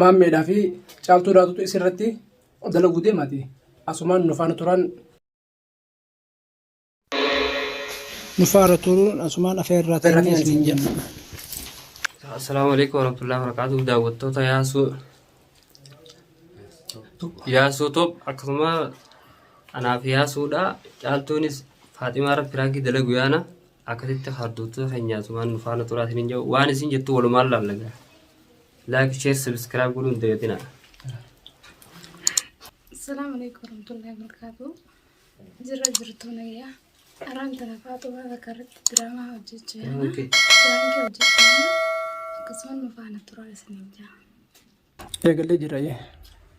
Maammeedhaa fi caaltuu daatutu isirratti dalaguu deemaati. Asumaan nufaana turaan. Nufaara turuun asumaan afeerraa ta'anii isin jenna. Assalaamu alaikum warahmatullahi wabarakatuh daawwattoota yaasuu yaasuu top akkasuma anaaf yaasuudha caaltuunis faaximaa irratti piraakii dalagu yaana akkasitti harduutu keenyaa sumaan nufaana turaa isin hin jedhu waan isin jettu walumaan laallagaa. Like, share, subscribe godhuu hin dagatinaa. Assalamu alaikum warahmatullahi wabarakatuh. Jirra jirtu nayya. Araan tana faatuma bakka irratti diraamaa hojjechaa jirna. Okay. Diraankii hojjechaa jirna. Akkasumas nu faana turaa isiniin jaa. Eegallee jira jee.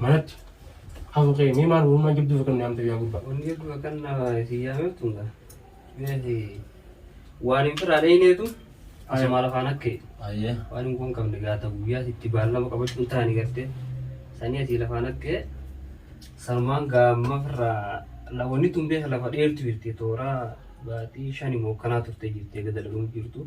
Manatti hafu kee mee maal uumaa jabduu fakkan naamta yaa gubbaa. Wanni hedduu akkan na isin yaameeftu nga. Meeti waan hin firaa dhayneetu asuma lafaan akka jedhu. Ayyee. Waan hin kun qabne gaata guyyaa itti baallama qabachuun taani gartee. Sanii asii lafaan akka jedhu. Sanumaan gaamma firraa la wanni tun beeka lafa dheertu jirti tooraa baatii shani moo kanaa turte jirti gada dhaluun jirtu.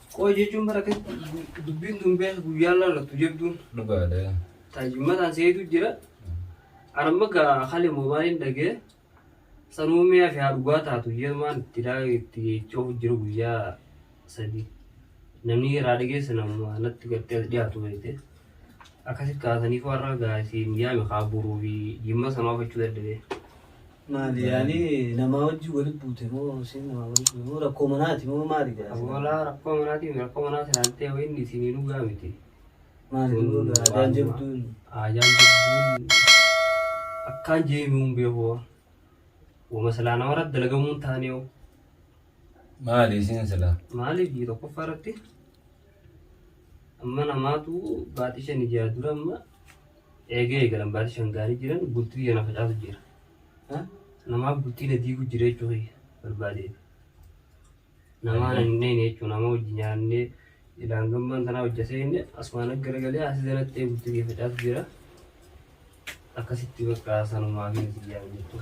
Qooyi jechuun bara akkasitti dubbiin tun beeka guyyaan laallattu jabduun. Dhugaadha. Taajummataan seetu jira. Arma gaa hali moobaaliin dhagee sanuu mi'a fi haa dhugaa taatu yeemaan itti daa itti jechuuf jiru guyyaa sadii. Namni irraa dhageesse nama natti gartee as dhiyaatu beekte. Akkasitti kaasaniif warra gaa isiin yaame haa buruu fi jimma sanuu hafachuu dadhabee. Maali yaani namaa wajjin wali buute moo siin namaa wali buute moo rakkoo manaati moo maali jedha. Awwaalaa rakkoo manaati rakkoo manaa silaaltee wayiin isinii dhugaa miti. Maali dhuguu gaa ajaan jabduun. Ajaan jabduun akkaan jeemi'uun beekoo. Wama silaa namarra dalagamuun taanee hoo. Maali isin silaa. Maaliif biyya tokkoffaa irratti amma namaatu baaxii shan ijaa dura amma Eegee eegalan baatii shan gaarii jiran bultii kiyya na facaasu jira. Ha? Namaaf bultii na diigu jira jechuu kiyya barbaadee. Namaa na hin dheeyne jechuu nama hojii nyaannee ilaan gammaan tanaa hojja seenne asumaan akka garagalee asi zanatti ee bultii kiyya facaasu jira. Akkasitti bakka sanumaa fi nati jaalan jechuu.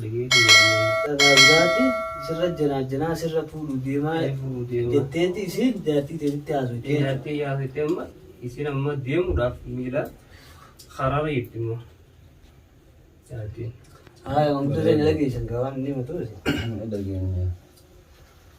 Nageeti waamee. Dhagaabbaati sirra janaa janaa sirra fuudhuu deemaa jetteeti isiin jaartii teetitti haasoyte jechuudha. Jaartii haasoyte amma isiin amma deemuudhaaf miila karaarra jirti immoo jaartiin. Haaya wantoota inni dhageessan gaawaan inni himatu. Dhageenya.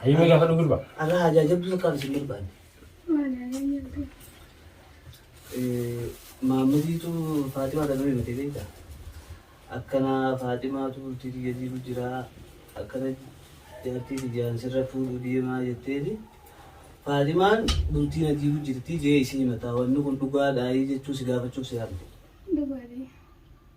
Hayyuu mee gaafadhu gurba. Arraa ajaajabduu takkaan isin barbaanne. Maammadiitu Faatimaa kan nuyi miti beekta. Akkana Faatimaatu bultii kiyya jiru jira. Akkana jaartii kiyyaan sirra fuudhuu deemaa jetteeti. Faatimaan bultii na jiru jirti jee isin himataa. Wanni kun dhugaadhaa jechuu si gaafachuuf si yaamte. Dhugaadha.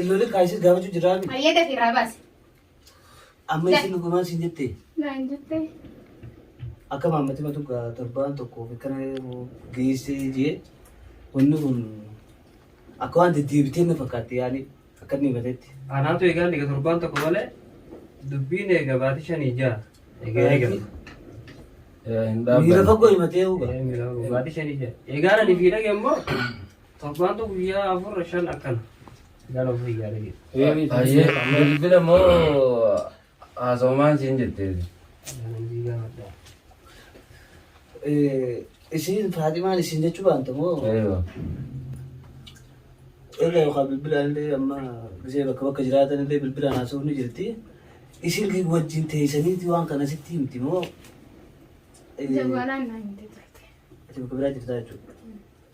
Illoolii kaayisii gaafachuu jiraa mi? Hayyee dafii irraa baasi. Amma isin dhugumaan siin jettee? Naan jettee. Akka maammatti matu gaa torbaan tokkoof akkana geessee jee wanni kun akka waan deddeebitee na fakkaatti yaani akka inni himatetti. Anaatu egaa inni torbaan tokko malee dubbiin egaa baatii shanii ja'a. Egaa egaa. Miira fagoo himatee huba. Baatii shanii ja'a. Egaa ani fiidhage immoo Torbaantu guyyaa afur shan akkana. Gara ofii yaada jedhu. Ayyee bilbila moo haasawumaan siin jetteeti. Namni gaafadha. Isin Faaximaan isin jechuu baanta moo? Eeyyo. Egaa yookaan bilbilaan illee amma gisee bakka bakka jiraatan illee bilbilaan haasawuun ni jirti. Isin wajjin teessaniiti waan kana sitti himti moo? Jawaalaan naan hin jette. Ati bakka biraa jirtaa jechuudha.